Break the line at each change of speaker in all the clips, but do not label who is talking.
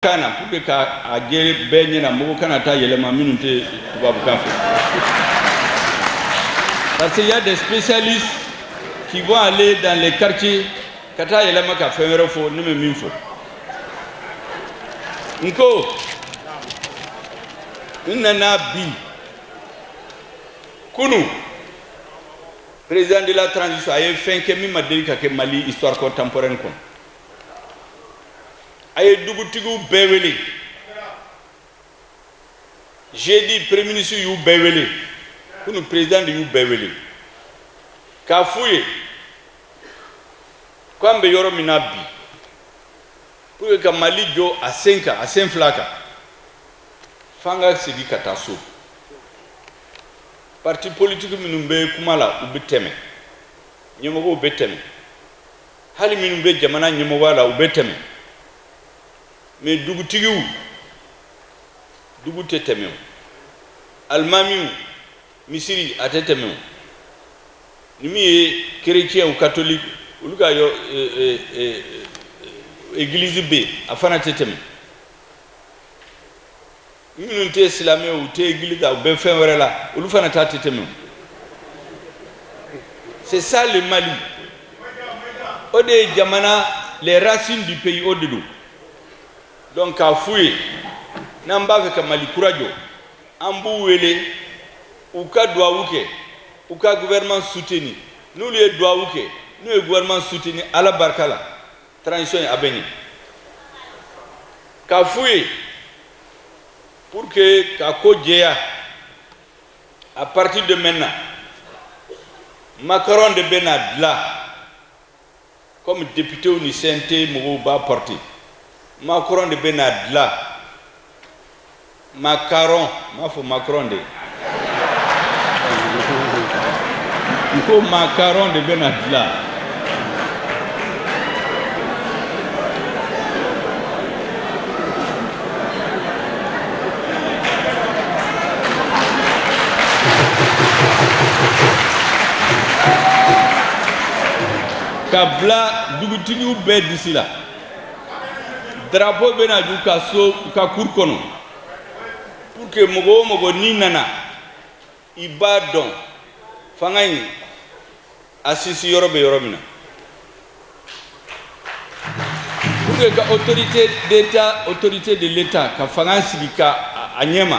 Kan na pour que ka a jɛya bɛɛ ɲɛna mɔgɔ kana taa yɛlɛma minnu tɛ tubabukan fɛ parce qu'il y a des spécialistes qui vont aller dans les quartiers ka taa yɛlɛma ka fɛn wɛrɛ fɔ ne bɛ min fɔ n ko n nana bi kunu président de la transition a ye fɛn kɛ min ma deli ka kɛ Mali histoire contemporaine kɔnɔ a ye dugutigiw bɛɛ wele jeudi premier ministre y'u bɛɛ wele kunu président de y'u bɛɛ wele k'a f'u ye ko an bɛ yɔrɔ min na bi pour que ka Mali jɔ a sen kan a sen fila kan f'an ka segin ka taa so parti politique minnu bɛ kuma la u bɛ tɛmɛ ɲɛmɔgɔw bɛ tɛmɛ hali minnu bɛ jamana ɲɛmɔgɔya la u bɛ tɛmɛ mais dugutigiw dugu tɛ tɛmɛ o alimamiw misiri a tɛ tɛmɛ o ni min ye chrétienw catholique olu ka yɔ église bɛ yen a fana tɛ tɛmɛ minnu tɛ silamɛ u tɛ église la u bɛ fɛn wɛrɛ la olu fana ta tɛ tɛmɛ c'est ça le Mali o de ye jamana les racines du pays o de don donc k'a f'u ye n'an b'a fɛ ka Mali kura jɔ an b'u wele u ka duwawu kɛ u ka gouvernement soutenir n'olu ye duwawu kɛ n'u ye gouvernement soutenir Ala barika la transition in a bɛ ɲɛ k'a f'u ye pour que ka ko jɛya à partir de maintenant macaron de bɛ na dilan comme députéw ni CNT mɔgɔw b'a porter macaron de bɛ na dilan macaron n m'a fɔ Macron dɛ n ko macaron de bɛna dilan ka bila dugutigiw bɛɛ disi la drapeau bɛ na jɔ u ka so u ka cour kɔnɔ pour que mɔgɔ o mɔgɔ n'i nana i b'a dɔn fanga in a sigiyɔrɔ bɛ yɔrɔ min na pour que ka autorité d'état autorité de l'état ka fanga sigi ka a ɲɛma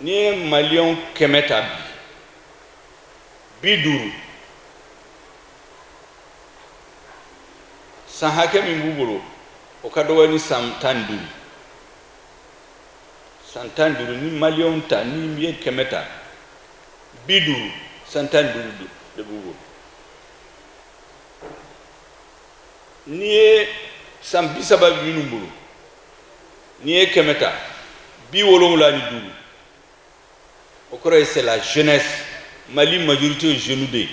n'i ye maliyɛnw kɛmɛ ta bi bi duuru san hakɛ min b'u bolo o ka dɔgɔ ni san tan ni duuru san tan ni duuru ni maliyɛnw ta n'i ye kɛmɛ ta bi duuru san tan ni duuru de b'u bolo n'i ye san bi saba bɛ minnu bolo n'i ye kɛmɛ ta bi wolonwula ni duuru o kɔrɔ ye c'est la jeunesse mali majorité o ye jeunew de ye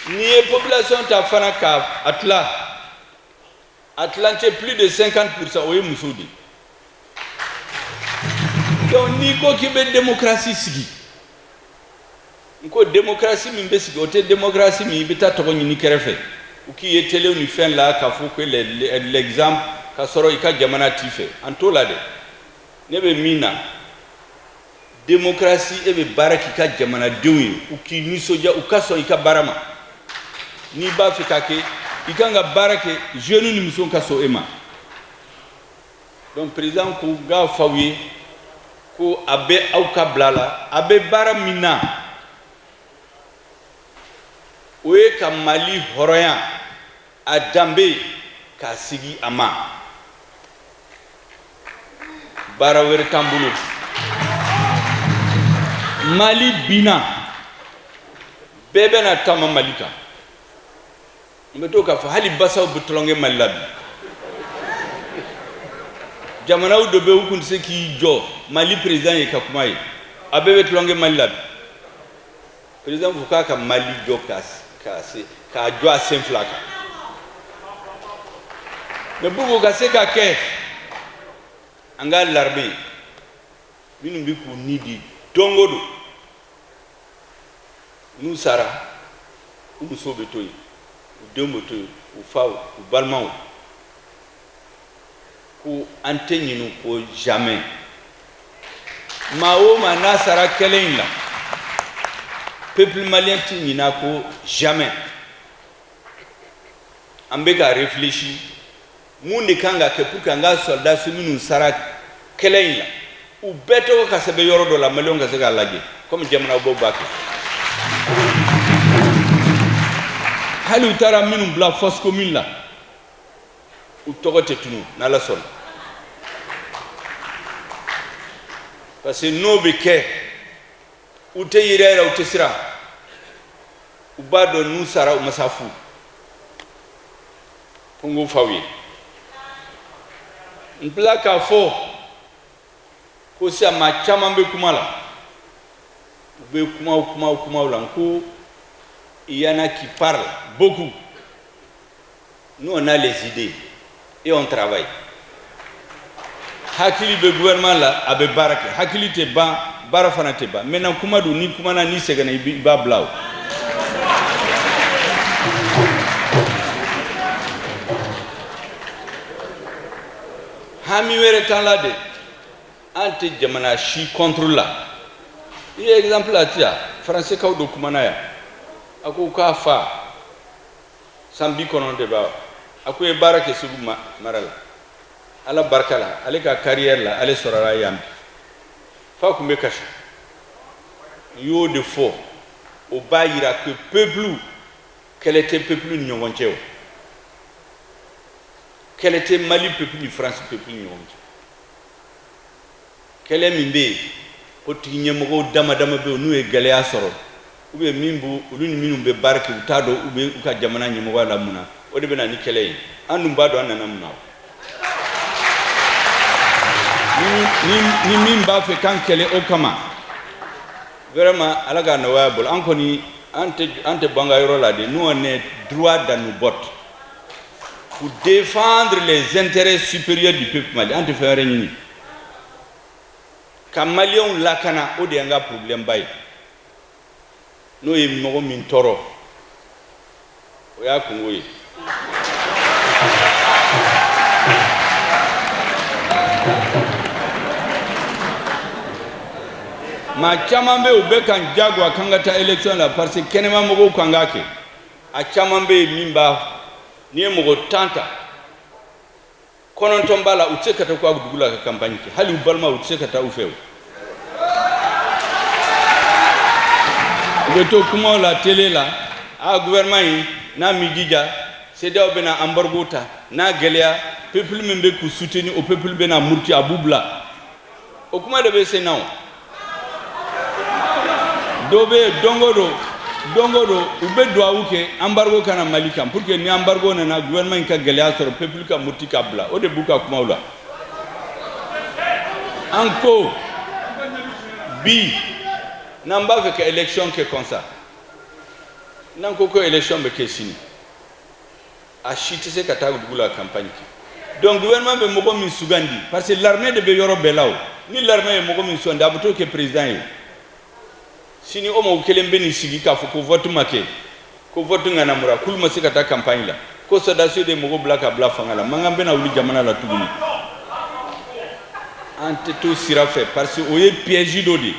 n'i ye population ta fana ka a tila a tilancɛ plus de 50 pourcent o ye musow de ye donc n'i ko k'i bɛ démocratie sigi n ko démocratie min bɛ sigi o tɛ démocratie min i bɛ taa tɔgɔ ɲini kɛrɛfɛ u k'i ye telew ni fɛn la k'a fɔ ko l'exemple ka sɔrɔ i ka jamana t'i fɛ an t'o la dɛ ne bɛ min na démocratie e bɛ baara k'i ka jamanadenw ye u k'i nisɔndiya u ka sɔn i ka baara ma n'i b'a fɛ k'a kɛ i kan ka baara kɛ jeunew ni musow ka sɔn e ma donc président ko n k'a f'aw ye ko a bɛ aw ka bila la a bɛ baara min na o ye ka mali hɔrɔnya a danbe k'a sigi a ma baara wɛrɛ t'an bolo mali binna bɛɛ bɛna taama mali kan n bɛ to k'a fɔ hali basaw bɛ tulon kɛ mali la bi jamanaw dɔ bɛ u tun tɛ se k'i jɔ mali président ye ka kuma ye a bɛɛ bɛ tulon kɛ mali la bi président ko k'a ka mali jɔ ka se k'a jɔ a sen fila kan mais pour qu'o ka se ka kɛ an ka l'armée minnu bɛ k'u ni di don o don n'u sara u musow bɛ to yen u denw bɛ to yen u faw u balimaw ko an tɛ ɲin'u kɔ jamais maa o maa n'a sara kɛlɛ in la peuple malien tɛ ɲin'a kɔ jamais an bɛ ka réfléchir mun de kan ka kɛ pour que an ka sɔrɔdasi minnu sara kɛlɛ in la u bɛɛ tɔgɔ ka sɛbɛn yɔrɔ dɔ la maliyɛnw ka se k'a lajɛ komi jamana dɔw b'a kɛ hali u taara minnu bila fosse commune la u tɔgɔ tɛ tunun n'ala sɔnna parce que n'o bɛ kɛ u tɛ yɛrɛyɛrɛ u tɛ siran u b'a dɔn n'u sara u ma sa fu Kungu faw ye n bila k'a fɔ ko sisan maa caman bɛ kuma la u bɛ kumaw kumaw kumaw la n ko il y en a qui parlent beaucoup nous on a les idées et on travaille hakili bɛ gouvernement la a bɛ baara kɛ hakili tɛ ban baara fana tɛ ban maintenant kuma don n'i kumana n'i sɛgɛnna i b'a bila o hami wɛrɛ t'an la de an tɛ jamana si contre la i ye exemple a ti yan faransikaw dɔ kumana yan a ko k'a fa san bi kɔnɔntɔn b'a a k'o ye baara kɛ segu mara la ala barika la ale ka carrière la ale sɔrɔla yan bi fa tun bɛ kasi u y'o de fɔ o b'a yira que peuple kɛlɛ tɛ peuple ni ɲɔgɔn cɛ o kɛlɛ tɛ mali peuple ni faransi peuple ni ɲɔgɔn cɛ Kɛlɛ min bɛ yen politiki ɲɛmɔgɔ dama dama bɛ n'u ye gɛlɛya sɔrɔ u bɛ min b olu ni minnu bɛ baara kɛ u t'a dɔn u bɛ u ka jamana ɲɛmɔgɔ la mun na o de bɛ na ni kɛlɛ ye an dun b'a dɔn an nana mun na ni min b'a fɛ k'an kɛlɛ o kama vraiment ala k'a nɔgɔya a bolo an kɔni an tɛ bɔ an ka yɔrɔ la de nous on est droit dans nos bottes pour défendre les intérêts supérieurs du peuple malien an tɛ fɛn wɛrɛ ɲini ka maliyɛnw lakana o de y'an ka porobilɛmba ye n'o ye mɔgɔ min tɔɔrɔ o y'a kunko ye maa caman bɛ yen u bɛ k'an jagoya k'an ka taa élection la parce que kɛnɛma mɔgɔw k'an k'a kɛ a caman bɛ yen min b'a n'i ye mɔgɔ tan ta kɔnɔntɔn b'a la u tɛ se ka taa u ka dugu la ka campagne kɛ hali u balima u tɛ se ka taa u fɛ o u bɛ to kumaw la télé la a gouvernement in n'a m'i jija CEDEAO bɛna embargo ta n'a gɛlɛya peuple min bɛ k'u soutenir o peuple bɛna muruti a b'u bila o kuma de bɛ sen na o dɔ bɛ yen don o don don o don u bɛ duwawu kɛ embargo ka na mali kan pour que ni embargo nana gouvernement in ka gɛlɛya sɔrɔ peuple ka muruti k'a bila o de b'u ka kumaw la an ko bi n'an b'a fɛ ka élection kɛ comme ça n'an ko ko élection bɛ kɛ sini A si tɛ se ka taa dugu la campagne kɛ donc gouvernement bɛ mɔgɔ min sugandi parce que l'armée de bɛ yɔrɔ bɛɛ la o ni l'armée ye mɔgɔ min sugandi a bɛ t'o kɛ président ye sini o mɔgɔ kelen bɛ n'i sigi k'a fɔ ko vote ma kɛ ko vote ŋanamura k'olu ma se ka taa campagne la ko sɔrɔdasiw de ye mɔgɔ bila ka bila fanga la mankan bɛna wuli jamana la tuguni an tɛ t'o sira fɛ parce que o ye piège dɔ de ye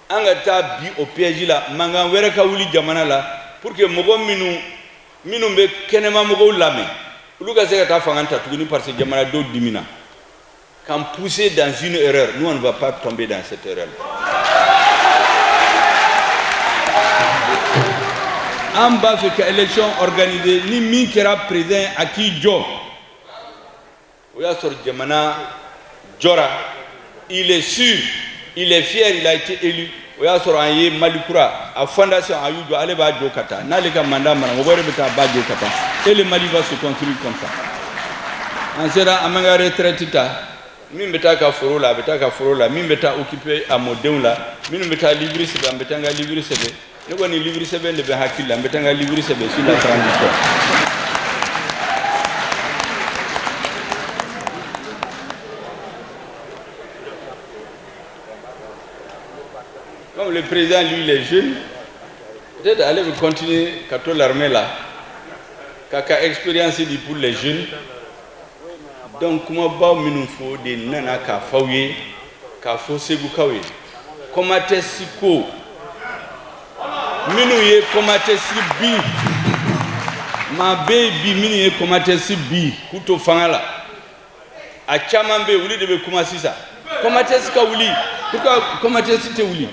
an ka taa bin o piège la mankan wɛrɛ ka wuli jamana la pour que mɔgɔ minnu minnu bɛ kɛnɛma mɔgɔw lamɛn olu ka se ka taa fanga ta tuguni parce que jamana dɔw dimina k'an pousser dans une erreur nous on ne va pas tomber dans cette erreur an b'a fɛ ka élection organiser ni min kɛra président a k'i jɔ o y'a sɔrɔ jamana jɔra il est sûr il est fier il a été élu o y'a sɔrɔ an ye mali kura a fondation an y'o jɔ ale b'a jɔ ka taa n'ale ka mandat banna mɔgɔ wɛrɛ bɛ taa a b'a jɔ ka taa et le mali va se construire comme ça an sera an b'an ka retraite ta min bɛ taa a ka foro la a bɛ taa a ka foro la min bɛ taa occuper a mɔdenw la minnu bɛ taa livre sɛbɛn an bɛ taa an ka livre sɛbɛn ne kɔni livre sɛbɛn de bɛ n hakili la n bɛ taa n ka livre sɛbɛn sur la transition comme le président lui il est jeune peut-être ale bɛ continuer ka to l'armée la k'a ka expérience di pour les jeunes donc kumabaw minnu fɔ de nana k'a fɔ aw ye k'a fɔ segukaw ye kɔmatɛsi ko minnu ye kɔmatɛsi bin maa bɛ yen bi minnu ye kɔmatɛsi bin k'u to fanga la a caman bɛ yen olu de bɛ kuma sisan kɔmatɛsi ka wuli pourquoi kɔmatɛsi tɛ wuli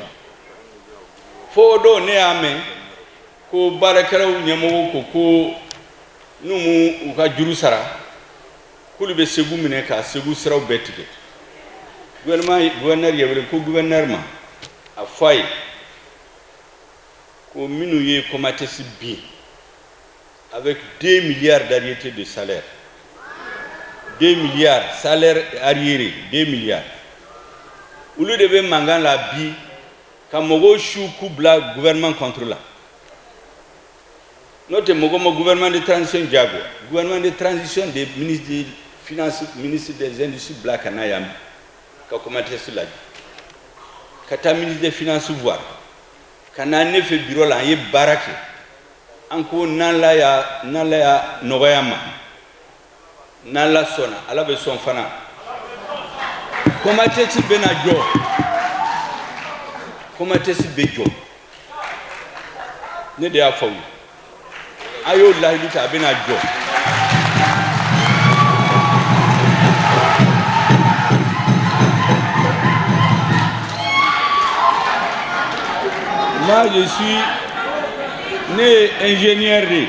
fo don ne y'a mɛn ko baarakɛlaw ɲɛmɔgɔw ko ko n'u m'u ka juru sara k'olu bɛ segu minɛ ka segu siraw bɛɛ tigɛ gɛnɛri yɛrɛ ko gɛnɛri ma a fɔ a ye ko minnu ye kɔmatɛsi bin a bɛ den miliyari dariyete de salɛ den miliyari salɛ ariyere den miliyari olu de bɛ mankan la bi ka mɔgɔw su k'u bila gɛnman kɔntu la N'o tɛ mɔgɔ ma gouvernement de transition jagoya gouvernement de transition de ye ministre des finances ministre des industries bila ka na yan ka kɔmatɛsi lajɛ ka taa ministre des finances voir ka na ne fɛ bureau la an ye baara kɛ an ko n'Ala y'a n'Ala y'a nɔgɔya an ma n' ala sɔnna ala bɛ sɔn fana Comatex bɛna jɔ Comatex bɛ jɔ ne de y'a f'aw ye a y'o layidu ta a bɛna jɔ moi je suis ne ye ingénieur de ye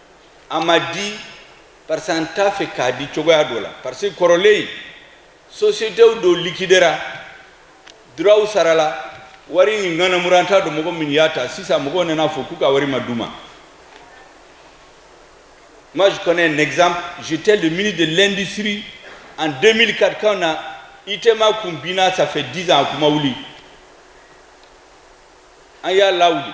a ma di parce que an t'a fɛ k'a di cogoya dɔ la parce que kɔrɔlen sociétéw dɔ liquidéra droitw sarala wari in ŋanamura an t'a dɔn mɔgɔ min y'a ta sisan mɔgɔw nana fɔ k'u ka wari ma d'u ma moi je connais un exemple j'étais le ministre de l'industrie en 2004 quand on a ITEMA kun binna ça fait 10 ans a kun ma wuli an y'a lawuli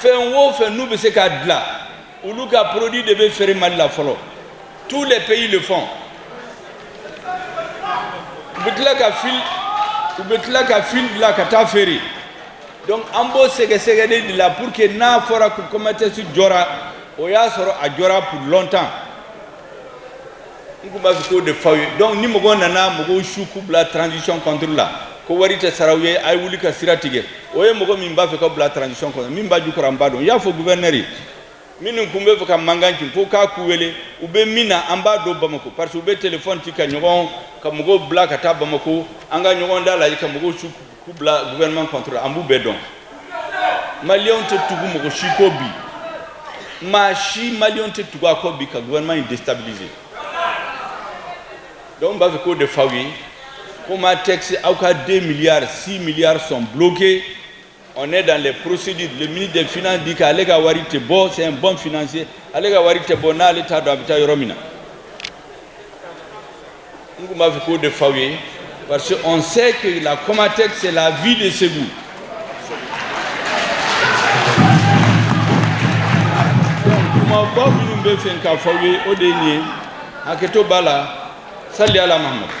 fɛn o fɛn n'u bɛ se k'a dilan olu ka produit de bɛ feere mali la fɔlɔ tous les pays le font u bɛ tila ka fil bila ka taa feere donc an b'o sɛgɛsɛgɛli de la pour que n'a fɔra ko Comatex jɔra o y'a sɔrɔ a jɔra pour longtemps N kun b'a fɛ k'o de f'aw ye donc ni mɔgɔw nana mɔgɔw su k'u bila transition contre la ko wari tɛ sara aw ye, a ye wuli ka sira tigɛ o ye mɔgɔ min b'a fɛ k'aw bila transition contre min b'a jukɔrɔ an b'a dɔn, n y'a fɔ gouverneur ye minnu kun bɛ fɛ ka mankan ci ko k'a k'u wele u bɛ min na an b'a dɔn Bamako parce que u bɛ téléphone ci ka ɲɔgɔn ka mɔgɔw bila ka taa Bamako an ka ɲɔgɔn dalajɛ ka mɔgɔw su K'u bila gouvernement contre la an b'u bɛɛ dɔn maliyɛnw tɛ tugu mɔgɔ si kɔ bi maa si maliyɛnw tɛ tugu a kɔ bi ka gouvernement in déstabiliser donc n b'a fɛ k'o de f'aw ye Comatex aw ka 2 milliards 6 milliards sont bloqués on est dans les procédures le ministre des finances dit k'ale ka wari tɛ bɔ c'est un bon financier ale ka wari tɛ bɔ n'ale t'a dɔn a bɛ taa yɔrɔ min na N kun b'a fɛ k'o de f'aw ye parce que on sait que la Comatex c'est la vie de Ségou. Kumaba minnu bɛ n fɛ k'a f'aw ye o de ye nin ye hakɛto b'a la sali ala Mahamadu.